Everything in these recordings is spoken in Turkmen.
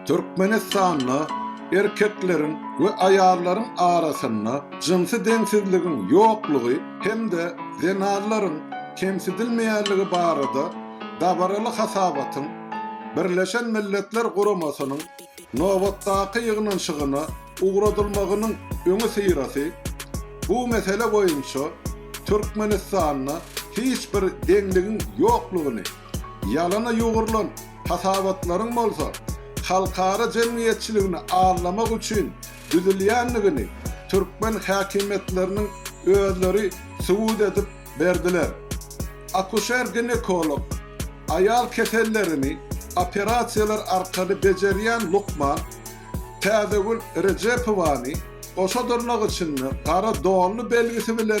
Türkmenistanda erkekleriň we aýallaryň arasynda jynsy deňsizligiň ýoklugy hem-de zenanlaryň kemsidilmeýänligi barada dabaraly hasabatyň Birleşen Milletler Guramasynyň nobatdaky ýygnanyşygyna ugradylmagynyň öňüsyrasy bu mesele boýunça Türkmenistanda hiç bir deňligiň ýoklugyny Ýalana ýugrulan hasabatlaryň bolsa halkara jemgyýetçiligini aldamak üçin düzülýändigini türkmen häkimiýetleriniň özleri subut edip berdiler. Akuşer-ginekolog, aýal kesellerini operasiýalar arkaly bejerýän lukman Täzegül Rejepowany goşa dyrnak içinde gara donly belgisi bilen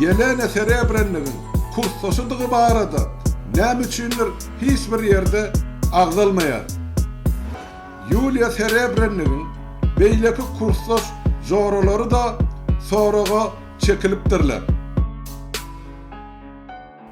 Ýelena Serebrennigiň kursdaşydygy barada näme üçindir hiç bir ýerde agzalmaýar. Ýuliýa Serebrennigiň beýleki kursdaş joralary-da soraga çekilipdirler.